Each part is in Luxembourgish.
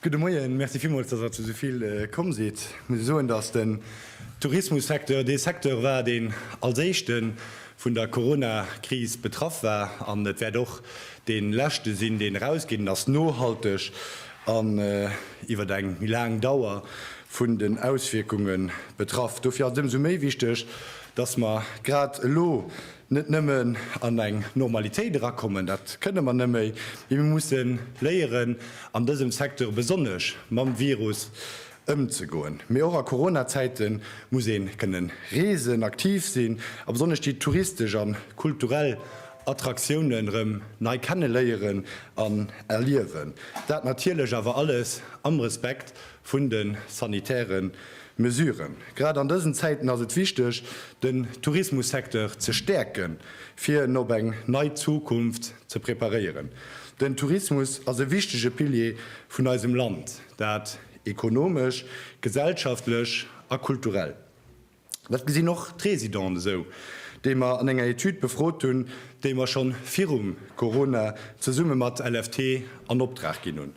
Gudde Moien, Merci villmools, datt Der zu esouvill komm sidd. Ech muss soen, datt den Tourismussecteur dee Secteur war, deen als éischte vun der Coronakris betraff war, an et wäert och dee leschte sinn, deen erausgeet ass, nohalteg an iwwer eng méi laang Dauer vun den Auswierkunge betraff. Dofir ass et ëmsou méi wichteg, Dass mer grad elo net nëmmen an eng Normalitéit erakommen, dat kënne mer net méi, mee mir musse léieren, an dësem Secteur besonnesch, mam Virus ëmzegoen. Mee och a Corona-Zäite muss ee kënne reesen, aktiv sinn a besonnesch déi touristesch a kulturell Attraktiounen erëm nei kenneléieren an erliewen. Dat natierlech awer alles am Respekt vun de sanitäre Mesuren. Grad an dësen Zäiten ass et wichteg, den Tourismussecteur ze stäerken, fir en op eng nei Zukunft ze preparéieren. Den Tourismus ass e wichtege Pilier vun eisem Land, dat ekonomesch, gesellschaftlech a kulturell. Dat gesinn och d'Résidenten esou, déi mer an enger Etüd befrot hunn, déi mer schonn virum Corona zesumme mat LFT an Opdrag ginn hunn.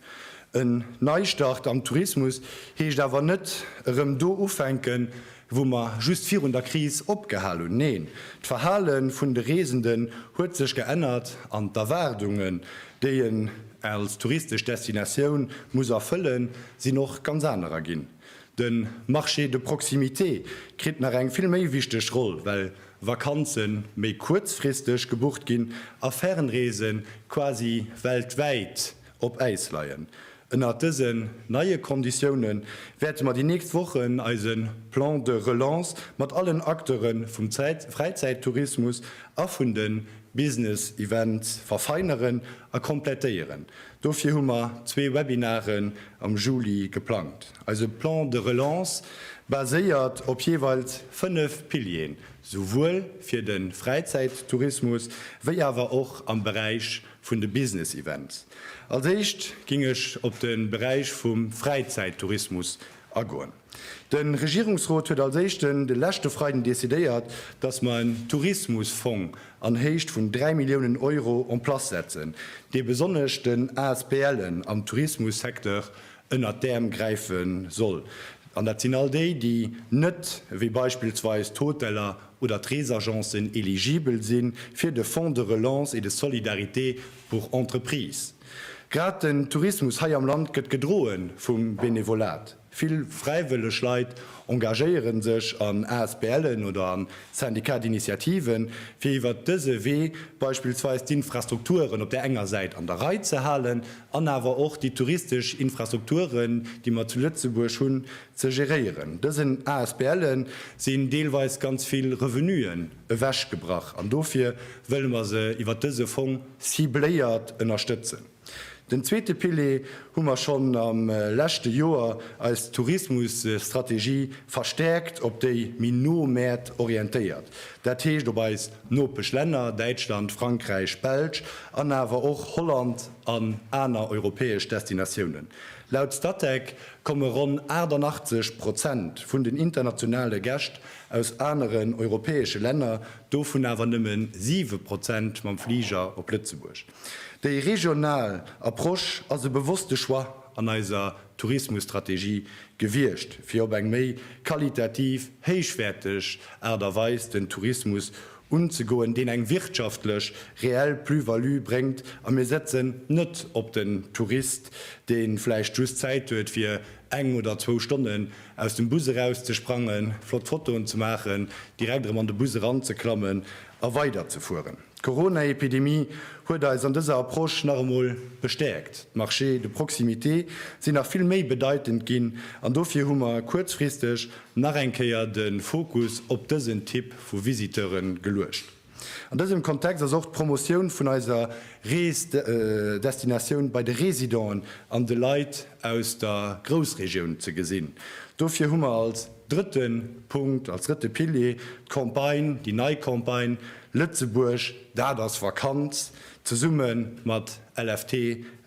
En Neistart am Tourismus heescht awer net erëm do ufänken, wou mer just virun der Kris opgehal hunn. Neen, d'Verhale vun de Reesenden huet sech geännert an d'Erwaardunge, déi een als touristesch Destinatioun muss erfëllen, sinn och ganz anerer ginn. De Marché de proximité kritt nach eng vill méi wichteg Roll, well Vakanze méi kuerzfristeg gebucht ginn a Fernreese quasi weltwäit op Äis leien. Ënnert dësen neie Konditioune wäerte mer déi nächst Wochen eise Plan de relance mat allen Acteure vum Fräizäittourismus a vun de Business Events verfeineren a komplettéieren, Dofir hu mer zwee Webinaren am Juli geplangt. Eise Plan de relance baséiert op jeeweils fënnef Pilieren, souwuel fir de Fräizäittourismus wéi awer och am Beräich vun de Business Events. Als éischt géing ech op de Beräich vum Fräizäittourismus agoen. De Regierungsrot huet als Éischten de leschte Freiden decidéiert, dass mer en Tourismusfong an Héicht vun 3 Milliounen Euro en place setzen, dee besonnesch den ASBLen am Tourismussecteur ënnert d'Äerm gräife soll. An dat sinn all déi, déi net, wéi beispillsweis d'Hoteller oder d'Reesagencen, eligibel si fir de Fonds de relance et de solidarité pour entreprises. Grad den Tourismus hei am Land gëtt gedroe vum Benevolat. Vill fräiwëlleg Leit engagéieren sech an ASBLen oder an Syndicats d'initiative fir iwwert dëse Wee beispillsweis d'Infrastrukturen op der enger Säit an der Rei ze halen an awer och déi touristesch Infrastrukturen déi mer zu Lëtzebuerg hunn ze geréieren. Dësen ASBLe sinn deelweis ganz vill Revenuen ewechgebrach an dofir wëlle mer se iwwert dëse Fong cibléiert ënnerstëtzen. Den zweete Pilier hu mer schonn am leschte Joer eis Tourismusstrategie verstärkt op déi méi no Mäert orientéiert, dat heescht op eis Nopeschlänner Däitschland, Frankräich, Belsch an awer och Holland an aner europäesch Destinatiounen. Laut Statec komme ronn 88 Prozent vun den internationale Gäscht aus aneren europäesche Länner, dovun awer nëmmen 7 Prozent mam Fliger op Lëtzebuerg. Déi regional Approche ass e bewosste Choix an eiser Tourismusstrategie gewiescht, fir op eng méi qualitativ héichwäerteg Aart a Weis den Tourismus unzegoen, deen eng wirtschaftlech reell Plus-value bréngt a mir setzen net op den Tourist, dee vläicht just Zäit huet fir eng oder zwou Stonnen aus dem Bus erauszesprangen, flott Fotoen ze maachen, direkt erëm an de Bus eranzeklammen a weiderzefueren. D'Corona-Epidemie huet eis an dëser Approche nach emol bestäerkt. D'Marchés de proximité sinn nach vill méi bedeitend ginn an dofir hu mer kuerzfristeg nach eng Kéier de Fokus op dësen Typ vu Visiteure geluecht. An dësem Kontext ass och d'Promotioun vun eiser Rees-Destinatioun bei de Residenten an de Leit aus der Groussregioun ze gesinn. Dofir hu mer als drëtte Punkt, als drëtte Pilier d'Campagne, déi nei Campagne Lëtzebuerg, dat ass Vakanz! zesumme mat LFT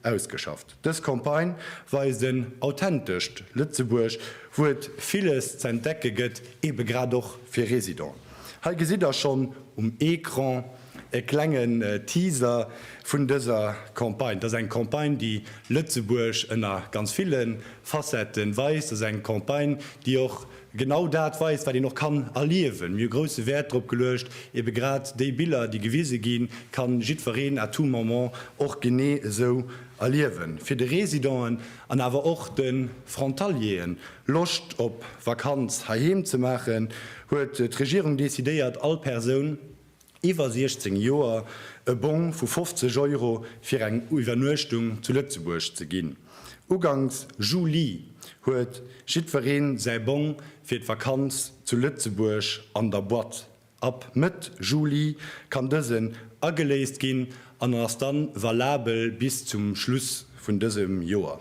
ausgeschafft. Dës Campagne weist en authentescht Lëtzebuerg, wou et villes z'entdecke gëtt, ebe grad och fir Residenten. Hei gesitt der schonn um Ecran e klengen Teaser vun dëser Campagne. Dat ass eng Campagne, déi Lëtzebuerg ënner ganz ville Facetten weist. Dat ass eng Campagne, déi och genau dat weist, wat een och kann erliewen. Mir hu grousse Wäert drop geluecht, ebe grad déi Biller, déi gewise ginn, ka jiddwereen à tout moment och genee esou erliewen. Fir de Residenten an awer och de Frontalieren Loscht op Vakanz heiheem ze maachen, huet d'Regierung decidéiert, all Persoun, iwwer 16 Joer e Bong vu 50 Euro fir eng Iwwernuechtung zu Lëtzebuerg ze ginn. Uganks Juli huet jiddweree säi Bong fir d'Vakanz zu Lëtzebuerg an der Boîte. Ab Mëtt Juli kann dësen ageléist ginn an ass dann valabel bis zum Schluss vun dësem Joer.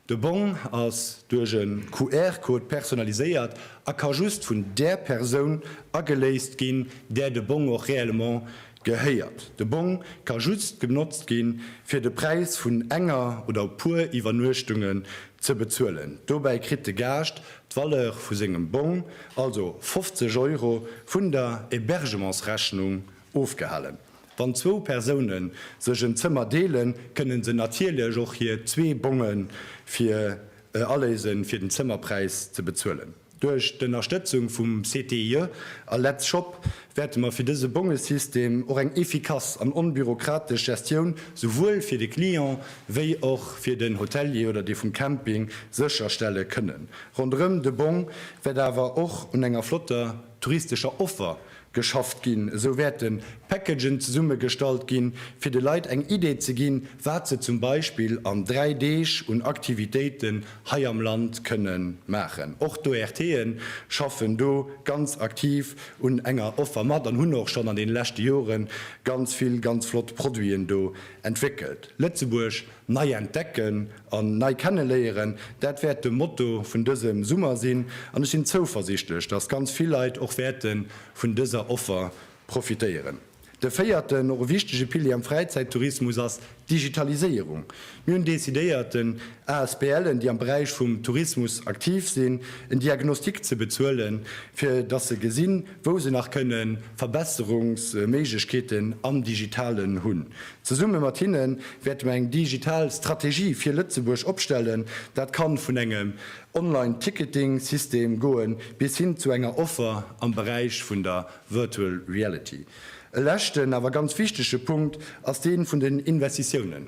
De Bong ass duerch en QR-Code personnaliséiert a ka just vun där Persoun ageléist ginn, där de Bong och réellement gehéiert. De Bong ka just genotzt ginn, fir de Präis vun enger oder puer Iwwernuechtungen ze bezuelen. Dobäi kritt de Gaascht d'Valeur vu sengem Bong, also 50 Euro, vun der Hébergementsrechnung Ofgehalen. Wann zwou Persoune sech en Zëmmer deelen, kënne se natierlech och hir zwee Bonge fir e aléise fir den Zëmmerpräis ze bezuelen. Duerch d'Ënnerstëtzung vum CTIE a Let's Shop wäerte mer fir dëse Bongesystem och eng efficace an onbürokratesch Gestioun souwuel fir de Client wéi och fir den Hotelier oder dee vum Camping sécherstelle kënnen. Ronderëm de Bong wäert awer och un enger flotter touristescher Offer geschafft ginn, esou wäerte Packagen zesummegestallt ginn, fir de Leit eng Idee ze ginn, wat se zum Beispill an dräi Deeg un Aktivitéiten hei am Land kënne maachen. Och d'ORTe schaffen do ganz aktiv un enger Offer mat an hunn och schonn an deene leschte Jore ganz vill ganz flott Produiten do entwéckelt. Lëtzebuerg Nei entdecken an nei kenneléieren, dat wäert de Motto vun dësem Summer sinn an ech sinn zouversichtlech, dass ganz vill Leit och wäerte vun dëser Offer profitéieren. De véierten, och e wichtege Pilier am Fräizäittourismus ass d'Digitaliséierung. Mir hunn decidéiert, den ASBLen, déi am Beräich vum Tourismus aktiv sinn, en Diagnostic ze bezuelen, fir dass se gesinn, wou se nach kënne Verbesserungsméiglechkeeten am Digitalen hunn. Zesumme mat hinne wäerte mer eng digital Strategie fir Lëtzebuerg opstellen. Dat ka vun engem Online Ticketing System goe bis hin zu enger Offer am Beräich vun der Virtual Reality. E leschten, awer ganz wichtege Punkt ass dee vun den Investitiounen.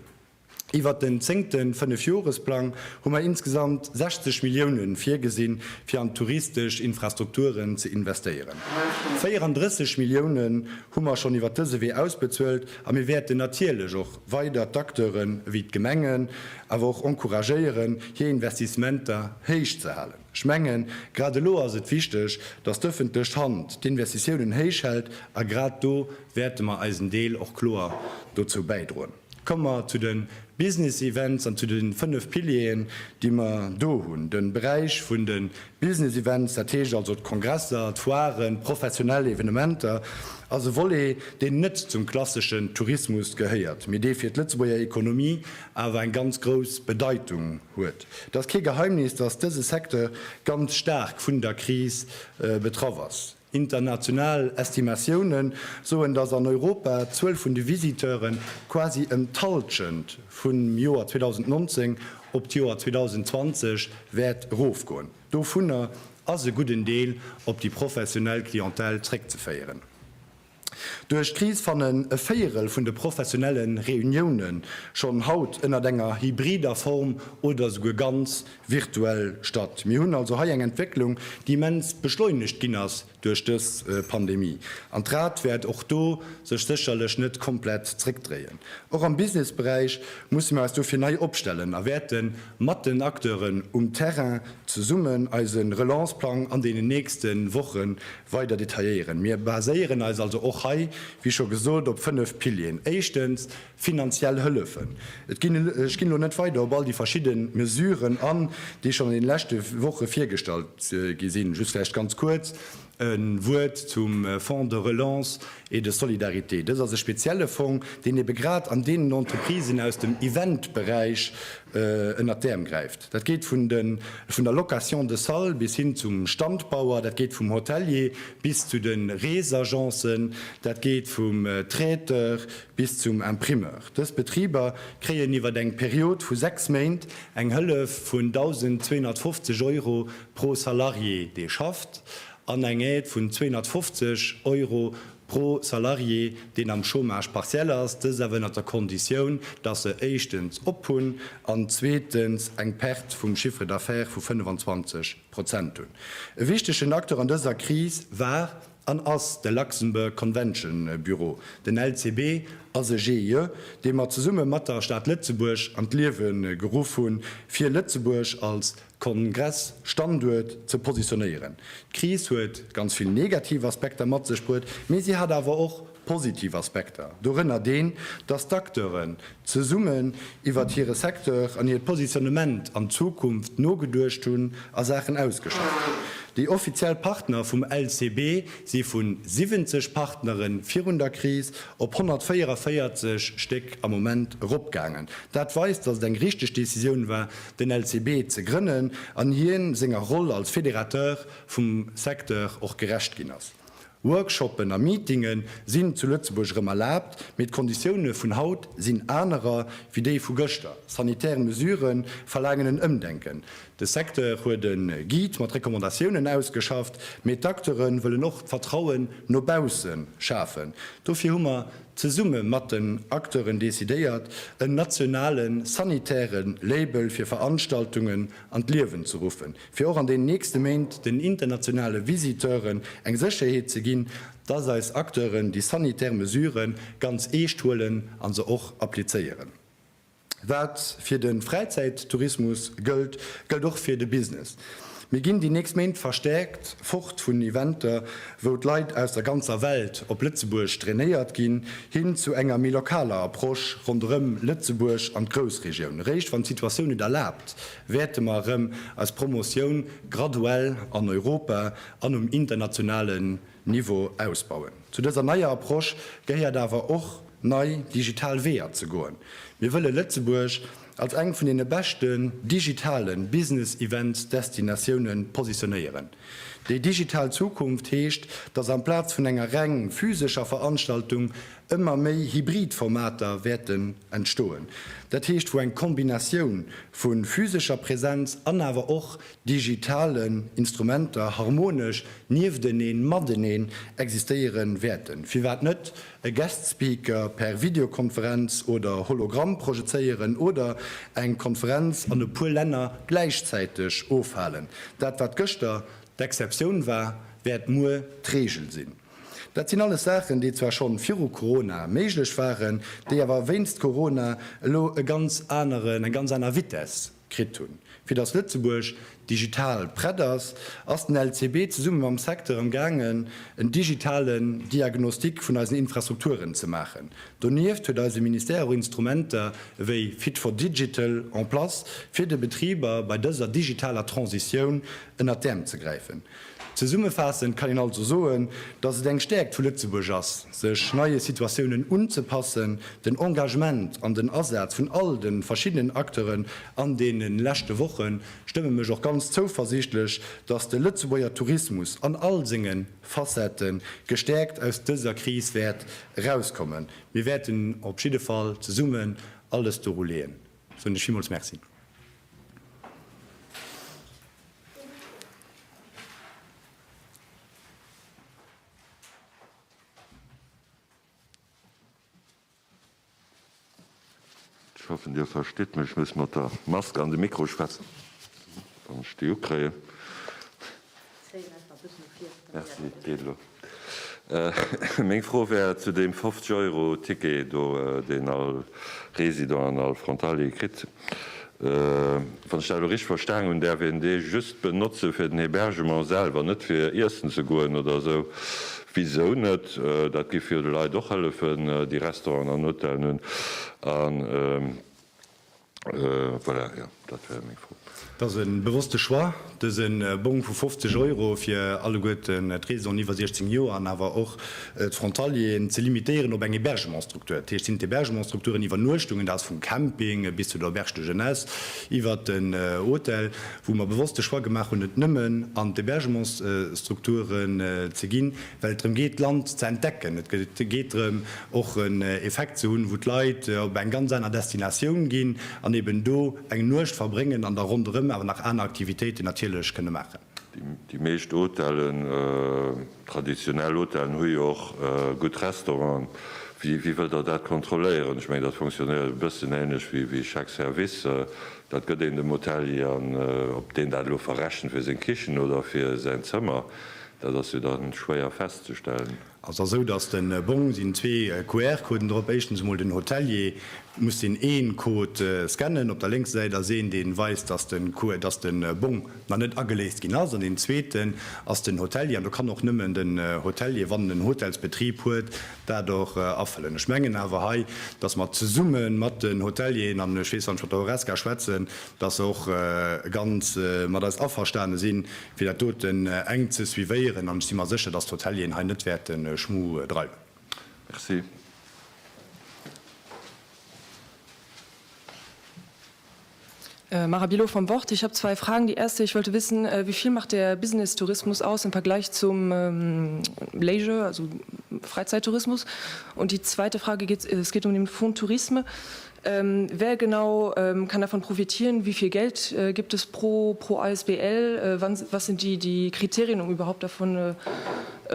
Iwwert den zéngte Fënnefjoresplang hu mer insgesamt 60 Millioune virgesinn, fir an d'touristesch Infrastrukturen ze investéieren. 34 Millioune hu mer schonn iwwert dëse Wee ausbezuelt a mir wäerten natierlech och weider d'Acteure wéi d'Gemengen awer och encouragéieren, hir Investissementer héich ze halen. Ech mengen, grad elo ass et wichteg, dass d'ëffentlech Hand d'Investitiounen héich hält a grad do wäerte mer eisen Deel och kloer dozou bäidroen. Komme mer zu de Business Events an zu de fënnef Pilieren, déi mer do hunn. De Beräich vun de Business Events, dat heescht also d'Kongresser, d'Foiren, d'professionell Evenementer, ass e Volet, deen net zum klasseschen Tourismus gehéiert, mee dee fir d'Lëtzebuerger Ekonomie awer eng ganz grouss Bedeitung huet. Et ass kee Geheimnis, dass dëse Secteur ganz staark vun der Kris betraff ass. International Estimatioune soen, datt an Europa d'Zuel vun de Visiteure quasi ëm d'Hallschent vum Joer 2019 op d'Joer 2020 wäert erofgoen. Dovunner ass e gudden Deel op déi professionell Clientèle zréckzeféieren. Duerch d'Kris fannen e Véierel vun de professionelle Reunioune schonn haut ënnert enger hybrider Form oder esouguer ganz virtuell statt. Mir hunn also hei eng Entwécklung, déi immens beschleunegt ginn ass duerch dës Pandemie. An d'Rad wäert och do sech sécherlech net komplett zréckdréien. Och am Businessberäich musse mir eis dofir nei opstellen a wäerte mat den Acteuren um Terrain zesummen eise Relanceplang an deenen nächste Woche Weider detailléieren. Mir baséieren eis also och hei, wéi scho gesot, op fënnf Pilieren. Éischtens, finanziell Hëllefen. Et ginn, ech ginn elo net weider op all déi verschidde Mesuren an, déi schonn an deene leschte Woche virgestallt gi sinn, just vläicht ganz kuerz e Wuert zum Fonds de relance et de solidarité. Dëst ass e spezielle Fong, deen eebe grad an deenen Entreprisen aus dem Eventberäich ënnert d'Äerm gräift. Dat geet vun der Location de salle bis hin zum Standbauer, dat geet vum Hotelier bis zu de Reesagencen, dat geet vum Traiteur bis zum Imprimeur. Dës Betriber kréien iwwer eng Period vu 6 Méint eng Hëllef vun 1.250 Euro pro Salarié, dee schafft, an eng Aide vun 250 Euro Pro Salarié, deen am Chômage partiel ass, dëst awer ënnert der Konditioun, dass se éischtens op hunn an zweetens eng Perte vum Chiffre d'affaires vu 25 Prozent hunn. E wichtegen Acteur an dëser Kris war an ass de Luxembourg Convention Bureau, den LCB ass e GIE, dee mer zesumme mat der Stad Lëtzebuerg an d'Liewe geruff hunn, fir Lëtzebuerg als. Kongress-Standuert ze positionéieren. D'Kris huet ganz vill negativ Aspekter mat sech bruet, mee si hat awer och positiv Aspekter, dorënner deen, dass d'Acteuren zesummen iwwert hire Secteur an hiert Positionnement an d'Zukunft nogeduecht hunn a Saachen ausgeschafft hunn. Déi offiziell Partner vum LCB si vu 70 Partnere virun der Kris op 144 Stéck am Moment eropgaangen. Dat weist, dass et eng richteg Decisioun war, den LCB ze grënnen an hien senger Roll als Fédérateur vum Secteur och gerecht ginn ass. Workshoppen a Meetinge sinn zu Lëtzebuerg erëm erlaabt, mee d'Konditioune vun haut sinn anerer wéi déi vu gëschter. Sanitär Mesurë verlaangen en Ëmdenken. De Secteur huet e Guide mat Recommandatiounen ausgeschafft, mee d'Acteure wëllen och d'Vertrauen no bausse schafen. Dofir hu mer zesumme mat den Acteuren decidéiert, en nationale sanitäre Label fir Veranstaltungen an d'Liewen ze ruffen, fir och an den nächste Méint den internationale Visiteuren eng Sécherheet ze ginn, dass eis Acteuren déi sanitär Mesure ganz eescht huelen a se och applizéieren. Wat fir de Fräizäittourismus gëllt, gëllt och fir de Business. Mir ginn déi nächst Méint verstäerkt fort vun Eventer, wou d'Leit aus der ganzer Welt op Lëtzebuerg drainéiert ginn, hin zu enger méi lokaler Approche ronderëm Lëtzebuerg an d'Groussregioun. Eréischt wann d'Situatioun et erlaabt, wäerte mer erëm eis Promotioun graduell an Europa an um internationale Niveau ausbauen. Zu dëser neier Approche gehéiert awer och, nei digital Weeër ze goen. Mir wëlle Lëtzebuerg als eng vun deene beschten digitale Business-Events-Destinatioune positionéieren. Déi digital Zukunft heescht, dass amplaz vun enger reng physescher Veranstaltung ëmmer méi hybrid Formater wäerten entstoen, dat heescht wou eng Kombinatioun vu physescher Präsenz an awer och digitalen Instrumenter harmonesch niefteneen, mateneen existéiere wäerten. Firwat net e Guest Speaker per Videokonferenz oder Hologramm projezéieren oder eng Konferenz an e puer Länner gläichzäiteg ofhalen? Dat, wat gëschter d'Exceptioun war, wäert muer d'Reegel sinn. Dat sinn alles Saachen, déi zwar schonn viru Corona méiglech waren, déi awer wéinst Corona elo e ganz aneren, eng ganz aner Vitess kritt hunn. Fir datt Lëtzebuerg digital prett ass, ass den LCB zesumme mam Secteur am gaangen en digitalen Diagnostic vun eisen Infrastrukturen ze maachen. Donieft huet eise Ministère och Instrumenter ewéi Fit for Digital en place fir de Betriber bei dëser digitaler Transitioun ënnert d'Äerm ze gräifen. Zesummefaassend kann een also soen, datt et eng Stäerkt vu Lëtzebuerg ass, sech neie Situatiounen unzepassen, den Engagement an den Asaz vun all de verschiddenen Acteuren an deene leschte Woche stëmme mech och ganz zouversiichtlech, datt de Lëtzebuerger Tourismus an all senge Facette gestäerkt aus dëser Kris wäert erauskommen. Mir wäerten op jidde Fall zesummen alles doru leeën, soen ech villmools Merci. Ech hoffen Dir verstitt mech, ech muss mat der Mask an de Mikro schwätzen, wann ech déi ukréien. Merci, et geet elo. Meng Fro wär zu deem 50 Euro Ticket do, deen all Resident an all Frontalier kritt. Wann ech dat elo richteg verstanen hunn, däerf een dee just benotze fir den Hebergement selwer, net fir iessen ze goen oder esou. Wisou net? Dat géif jo de Leit och hëllefen, déi Restauranten an Hotellen hunn. Voilà, jo, dat war meng Fro. Et ass e bewosste Choix, dëse Bong vu 50 Euro fir alleguerten d'Residenten iwwer 16 Joer an awer och d'Frontalieren ze limitéieren op eng Hebergementsstruktur. Dat heescht, sinn d'Hebergementsstrukturen, Iwwernuechtungen, dat ass vum Camping bis zu der Auberge de Jeunesse iwwert den Hotel, wou mer bewosst de Choix gemaach hunn, et nëmmen an d'Hebergementsstrukturen ze ginn, well et drëm geet d'Land ze entdecken, et geet drëm och en Effekt ze hunn, wou d'Leit op eng ganz aner Destinatioun ginn an eben do eng Nuecht verbréngen an da ronderëm awer nach aner Aktivitéiten natierlech kënne maachen. Déi meescht Hotellen, traditionell Hotellen, hu jo och gutt Restauranten. Wéi wëllt Der dat kontrolléieren? Ech mengen, dat fonctionnéiert e bëssen änlech wéi Chèque service. Dat gëtt een dem Hotelier an ob deen dat elo verrechent fir seng Kichen oder fir säin Zëmmer, Dat ass jo dann schwéier festzestellen. Ass da sou dass den Bong sinn zwee QR Coden drop. Éischtens emol den Hotelier muss den een Code scannen. Op der lénkser Säit ass een deen weist dass den QR dass den Bong nach net ageléist ginn ass. An den zweeten ass den Hotelier an do kann och nëmmen den Hotelier wann en en Hotelsbetrieb huet dat och afëllen. Ech mengen awer hei dass mer zesummen mat den Hotelieren an ech weess wann ech mat der Horesca schwätzen dass se och ganz mat eis averstane sinn fir dat doten enk ze suivéieren an ech si mer sécher, dass d'Hotelieren hei net wäerte Schmu dreiwen. Merci. Mara Bilot, Vom Wort, Ich habe zwei Fragen. Die erste, ich wollte wissen, wie viel macht der Business-Tourismus aus im Vergleich zum Leisure, also Freizeitourismus? Und die zweite Frage geht, es geht um den Fonds Tourisme. Wer genau kann davon profitieren? Wie viel Geld gibt es pro asbl? Was sind die Kriterien, um überhaupt davon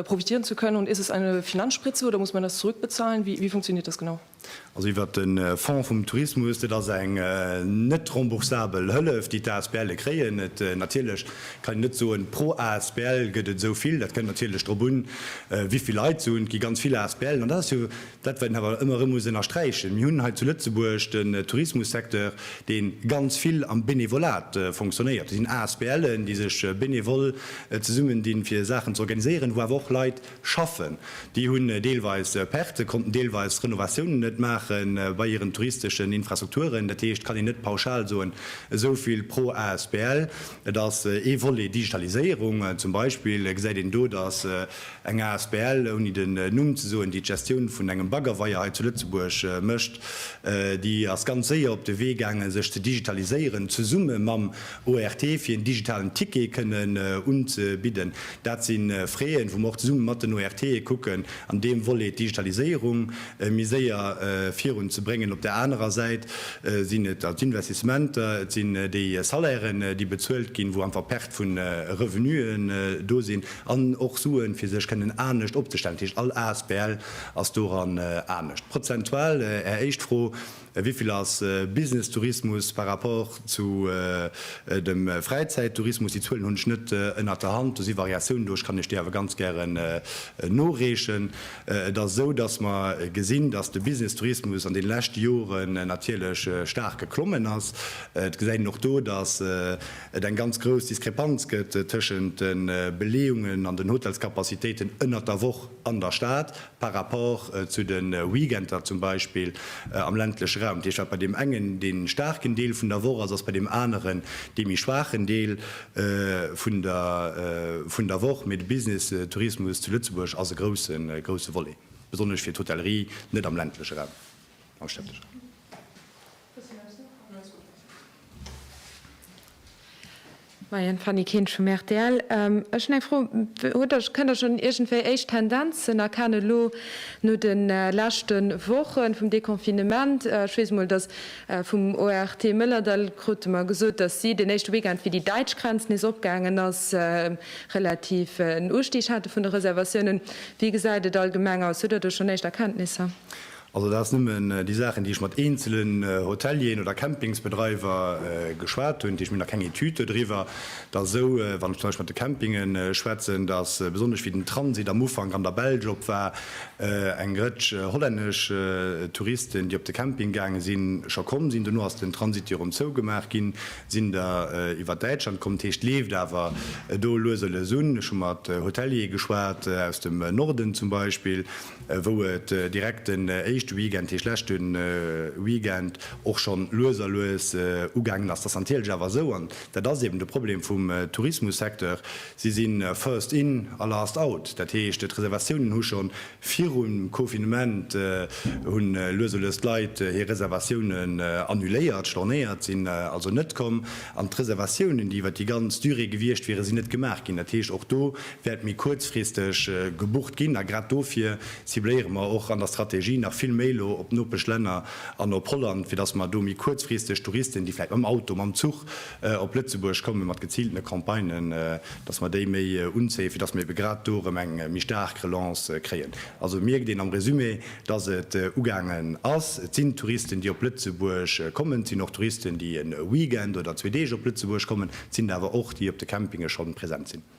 profitieren zu können? Und ist es eine Finanzspritze oder muss man das zurückbezahlen? Wie funktioniert das genau? Also iwwert de Fonds vum Tourismus, dat ass eng net remboursabel Hëllef, déi d'ASBLe kréien. Natierlech kann een net soen, pro asbl gëtt et esou vill. Dat kënnt natierlech drop un, wéi vill Leit et sinn. Et gi ganz vill asbl'en. An dat ass jo Dat wat een awer ëmmer erëm muss ënnersträichen, mir hunn hei zu Lëtzebuerg den Tourismussecteur, dee ganz vill am Benevolat fonctionnéiert. Et sinn ASBLen, déi sech benevol zesummendinn, fir Saachen ze organiséieren, wou awer och Leit schaffen. Déi hunn deelweis Pertë, konnten deelweis Renovatiounen net maache bei hiren touristeschen Infrastrukturen. Dat heescht, et kann een net pauschal soen, esou vill pro asbl. Et ass ee Volet Digitaliséierung zum Beispill, gesäit een do, datt Eng asbl, ouni den Numm ze soen, déi d'Gestioun vun engem Baggerweier hei zu Lëtzebuerg mécht, déi ass ganz séier op de Wee gaangen, sech ze digitaliséieren, zesumme mam ORT, fir en digitalen Ticket kënnen unzebidden. Dat si Freeën, wou mer och zesumme mat den ORTe kucken, an deem Volet d'Digitaliséierung méi séier virun ze bréngen. Op där anerer Säit sinn et d'Investissementer, et sinn déi Salairen, déi bezuelt ginn, wou einfach Perte vu Revenuen do sinn. An och Suen, fir sech kënnen anescht opzestellen. Dat heescht, all Asbl ass doran anescht. Prozentual, Är éischt Fro, wéi vill ass Businesstourismus par rapport zu dem Fräizäittourismus? Déi Zuelen hunn ech net ënnert der Hand. Do si Variatiounen do. Ech kann Iech déi awer ganz gären noreechen. Et ass esou, datt mer gesinn, datt de Businesstourismus an deene leschte Joren natierlech staark geklommen ass. Et gesäit een och do, datt et eng ganz grouss Diskrepanz gëtt tëschent de Beleeungen an den Hotelscapacitéiten ënnert der Woch an der Stad par rapport zu de Weekender zum Beispill am ländleche Raum. Dat heescht, wat bei deem engen dee staarken Deel vun der Woch ass, ass bei deem aneren dee méi schwaachen Deel vun der Woch. Mee de Businesstourismus zu Lëtzebuerg ass e grousse, grousse Volet, besonnesch fir d'Hotellerie, net am ländleche Raum, am städtesche Raum. Maien, Fanny Kinsch vum rtl. Ech hunn eng Fro, hutt Der, kënnt Der schonn iergendwéi éischt Tendenzen erkennen elo no de leschte Woche vum Deconfinement? Ech weess emol, datt vum ORT Mëllerdall krute mer gesot, datt si den éischte Weekend, wéi déi däitsch Grenz nees opgaangen ass, relativ en Ustig hate vun de Reservatiounen. Wéi gesäit et allgemeng aus? Hutt Der do schonn éischt Erkenntnisser? Also dat ass nëmmen déi Saachen, déi ech mat eenzelen Hotelieren oder Campingsbedreiwer geschwat hunn. Dat heescht, mir hunn nach keng Etüd dodriwwer. Et ass esou, wann ech zum Beispill mat de Campinge schwätzen, datt besonnesch wéi den Transit am Ufank an der Belsch op war, eng Rëtsch hollännesch Touristen, déi op de Camping gaange sinn, scho komm sinn. Dono ass den Transit jo erëm zougemaach ginn. Sinn der iwwer Däitschland komm. Dat heescht, et leeft awer do lues a lues un. Ech hu mat Hoteliere geschwat aus dem Norden zum Beispill. wou et direkt den éischte Weekend, heescht leschte Weekend, och schonn lues a lues ugaangen ass. Dat ass natierlech awer esou, an dat ass eben de Problem vum Tourismussecteur, si si first in a last out. Dat heescht, d'Reservatiounen hu scho virum Confinement, hu lues a lues d'Leit hir Reservatiounen annuléiert, stornéiert, sinn also net komm, an d'Reservatiounen, déi iwwer déi ganz Durée gewiescht wieren, sinn net gemaach ginn. Dat heescht, och do wäert méi kuerzfristeg gebucht ginn. A grad dofir cibléiere mer och an der Strategie nach vill méi elo op d'Nopesch Länner an op Holland, fir datt mer do méi kuerzfristeg Touristen, déi vläicht mam Auto, mam Zuch op Lëtzebuerg kommen, mat geziiltene Campagnen, datt mer déi méi unzéien, fir datt mer ebe grad do erëm eng méi staark Relance kréien. Also mierkt een am Resumé, datt et ugaangen ass. Et sinn Touristen, déi op Lëtzebuerg kommen. Et sinn och Touristen, déi e Weekend oder zwee Deeg op Lëtzebuerg kommen. Et sinn der awer och, déi op de Campinge schonn present sinn.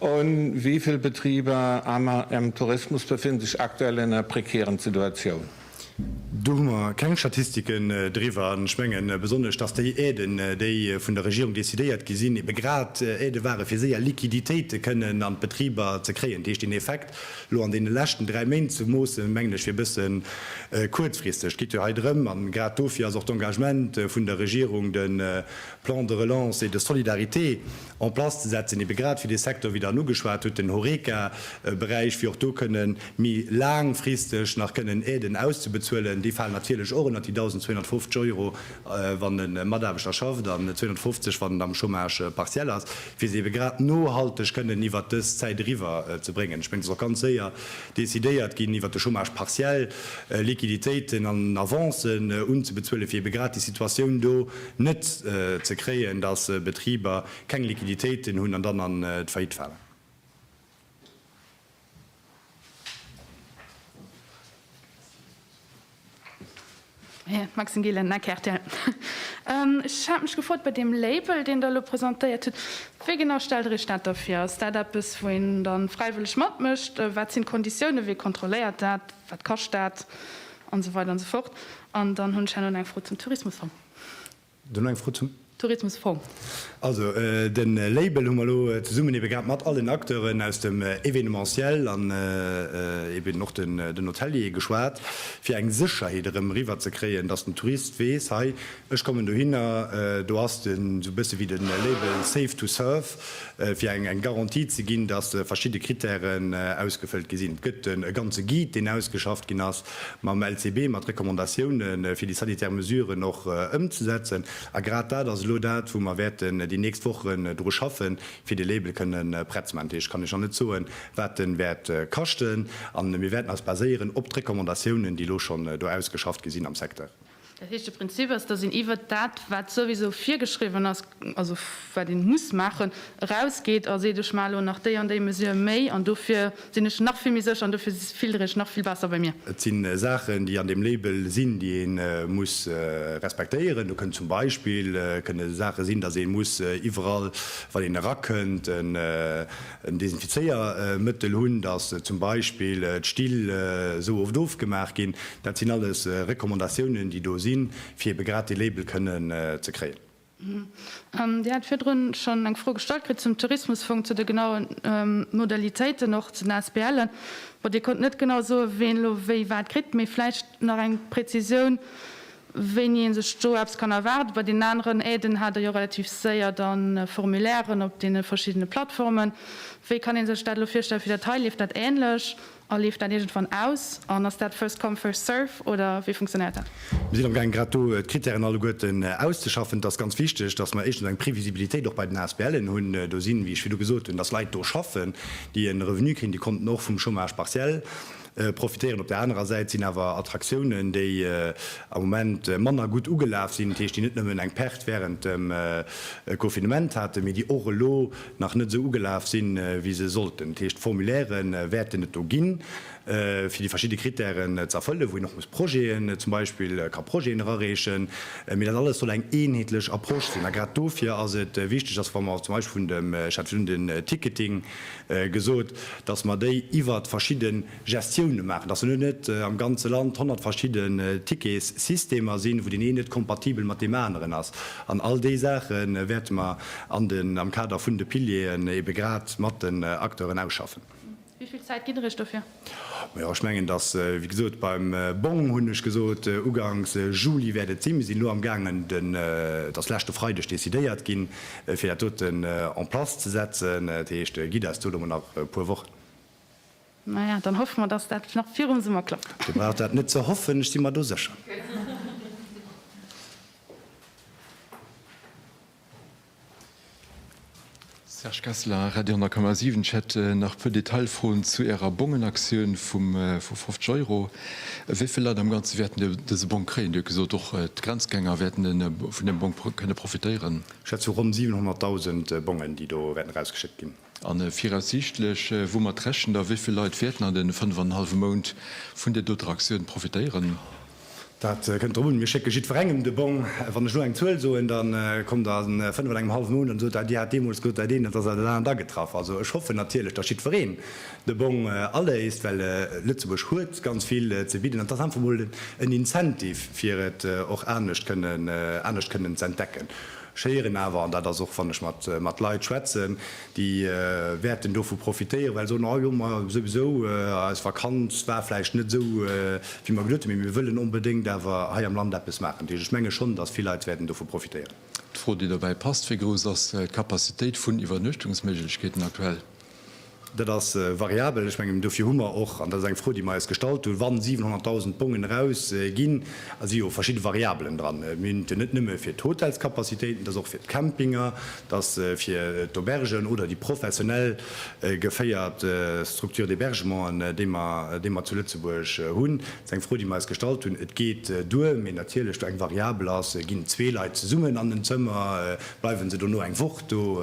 Un wéi vill Betriber am am Tourismus befinn sech aktuell an enger prekären Situatioun? Do hu mer keng Statistiken driwwer. An ech menge besonnesch, dass déi Aiden, déi vun der Regierung decidéiert gi sinn, ebe grad Aide ware fir séier Liquiditéite kënnen an d'Betriber ze kréien. Dat heescht, deen Effekt elo an deene leschten dräi Méint ze moossen, mengen ech wier e bësse kuerzfristeg. Et geet jo hei drëm, a grad dofir ass och d'Engagement vun der Regierung, de Plan de relance et de solidarité en place ze setzen, ebe grad fir dee Secteur, wéi Der en ugeschwat hutt, den Horeca-Beräich, fir och do kënne méi laangfristeg nach kënnen Aiden auszebezuelen. Déi falen natierlech och ënnert déi 1.250 Euro, wann e Mataarbechter schafft, an 250, wann en am Chômage partiel ass, fir se ebe grad nohalteg kënnen iwwert dës Zäit eriwwer ze bréngen. Ech mengen, et ass och ganz séier decidéiert ginn, iwwert de Chômage partiel Liquiditéiten an Avancen unzebezuelen, fir ebe grad déi Situatioun do net ze kréien, datt Betriber keng Liquiditéiten hunn an dann an d'Faillite falen. Maxime Gillen, Mme Rtl. Ech hat mech gefrot, bei deem Label, deen Der elo presentéiert hutt, wéi genau stellt Der Iech dat da vir? Ass dat eppes, wou een da fräiwëlleg matmécht? Wat sinn d'Konditiounen? Wee kontrolléiert dat? Wat kascht dat? An esou weider an esou fort. An dann hunn ech herno nach eng Fro zum Tourismusfong. Du nach eng Fro zum. Tourismusfong. Also de Label hu mer elo zesummen ebe grad mat allen Acteuren aus dem Événementiel an eben och den Hoteliere geschwat, fir eng Sécherheet erëm eriwwer ze kréien, dass den Tourist weess, hei Ech kommen dohinner, do ass de sou bësse wéi de Label Safe to Serve, fir eng eng Garantie ze ginn, datt verschidde Krittären ausgefëllt gi sinn. Et gëtt e ganze Guide, deen ausgeschafft ginn ass mam LCB, mat Recommandatioune fir déi sanitär Mesuren och ëmzesetzen. A grad dat ass elo dat, wou mer wäerten déi nächst Wochen dru schaffen, fir de Label kënne prett ze maachen. Dat heescht, kann ech nach net soen, wat de wäert kaschten. A mir wäerten eis baséieren op d'Recommandatiounen, déi elo schonn do ausgeschafft gi sinn am Secteur. Dat heescht, de Prinzip ass, datt een iwwert dat, wat souwisou virgeschriwwen ass, also wat ee muss maachen, erausgeet a seet, ech maache elo nach déi an déi Mesure méi an dofir sinn ech nach vill méi sécher an dofir filtere ech nach vill besser bei mir. Et si Saachen, déi an deem Label sinn, déi ee muss respektéieren. Do kënnt zum Beispill kënne Saache sinn, datt ee muss iwwerall, wann een erakënnt, en Desinfizéiermëttel hunn, datt zum Beispill d'Still esou oft ofgemaach ginn, dat sinn alles Recommandatiounen, déi do sinn, fir ebe grad dee Label kënnen ze kréien. Dir hat virdrun schonn eng Fro gestallt kritt zum Tourismusfong, zu de genaue Modalitéiten, och zu den ASBLen. Dir konnt net genau soen, ween elo wéi wat kritt, mee vläicht Nach eng Präzisioun, wéini ee sech do eppes kann erwaarden. Bei deenen aneren Aiden hat Der jo relativ séier da Formulairen op deene verschiddene Plattformen. Wéi kann ee sech dat elo virstellen fir dat hei? Leeft dat änlech a leeft dat iergendwann aus an ass dat first come, first serve oder wéi funktionéiert dat? Mir sinn amgaang grad do d'Krittären alleguerten auszeschaffen. Et ass ganz wichteg, dass mer éischtens eng Previsibilitéit och bei den ASBLen hunn. Do sinn, wéi ech virdu gesot hunn, dass Leit do schaffen, déi e Revenu kréien, déi konnten och vum Chômage partiel profitéieren. Op der anerer Säit sinn awer Attraktiounen, déi am Moment manner gutt ugelaf sinn, dat heescht, déi net nëmmen eng Perte wärend dem Confinement haten, mee déi och elo nach net esou ugelaf sinn, wéi se sollten. Dat heescht, Formulaire wäerten et do ginn, fir déi verschidde Krittären ze erfëllen, wou een och muss Projeten, zum Beispill ka Projeten erareechen, mee dat alles soll eng eenheetlech Approche sinn. A grad dofir ass et wichteg, dass wa mer zum Beispill vun dem, ech hat virun den Ticketing gesot, dass mer déi iwwert verschidde Gestioune maachen, dass elo net am ganze Land honnert verschidde Ticketssystemer sinn, wou deen een net kompatibel mat deem aneren ass. An all déi Saache wäerte mer an den, am Kader vun de Pilieren ebe grad mat den Acteuren ausschaffen. Wéi vill Zäit gitt Der Iech dofir? Mä jo, ech mengen, dass, wéi gesot, beim Bong hunn ech gesot, ugangs Juli wäert et sinn. Mir sinn elo amgaangen, den, et ass leschte Freideg decidéiert ginn, fir dat doten en place ze setzen. Dat heescht, gitt eis do elo mol nach e puer Wochen. Maja, dann hoffe mer, dass dat nach virum Summer klappt. Dir braucht dat net ze hoffen, ech si mer do sécher. Serge Kessler, Radio 10,7 Ech hätt nach e puer Detailfroen zu Ärer Bongenaktioun vu 50 Euro. Wéi vill Leit am Ganze wäerten dëse Bong kréien? Dir hutt gesot, och d'Grenzgänger wäerten vun deem Bong kënne profitéieren. Schätzung, Ronn 700.000 Bongen, déi do wäerten erausgeschéckt ginn. A viraussiichtlech, woumat rechent Der, wéi vill Leit wäerten an deene fënnef an en hallwe Mount vun där doter Aktioun profitéieren? Dat kënnt drop un. Mir schécke jiddwerengem de Bong. Wann ech elo eng Zuel soen, da kommt Der a fënnef an engem hallwe Mount an sot, Dir hat deemools gesot, dat eent, elo ass dat dat anert agetraff. Also ech hoffen natierlech, datt jiddwereen de Bong aléist, well Lëtzebuerg huet ganz vill ze bidden an et ass einfach emol en Incentive, fir et och anescht kënnen anescht kënnen z'entdecken. Ech héieren awer, an dat ass och wann ech mat Leit schwätzen, déi wäerten dovu profitéieren, well se soen, oh jo, ma souwisou, eis Vakanz war vläicht net esou wéi mer geduet hunn, mee mir wëllen onbedéngt awer hei am Land eppes maachen. Dat heescht, ech menge schonn, datt vill Leit wäerten dovu profitéieren. D'Fro, déi dobäi passt, Wéi grouss ass d'Capacitéit vun Iwwernuechtungsméiglechkeeten aktuell? Dat ass variabel. Ech mengen, dofir hu mer och, an dat ass eng Fro, déi mer eis gestallt hunn, wa 700.000 Bongen erausginn, da si jo verschidde Variabelen dran. Mir hunn et jo net nëmme fir d'Hotelskapazitéiten, et ass och fir d'Campinger, et ass fir d'Aubergen oder déi professionell geféiert Structures d'hébergementen, déi mer zu Lëtzebuerg hunn. Dat ass eng Fro, déi mer eis gestallt hunn. Et geet duer, mee natierlech do eng Variabel ass, ginn zwee Leit zesummen an en Zëmmer, bleiwe se dono eng Woch do?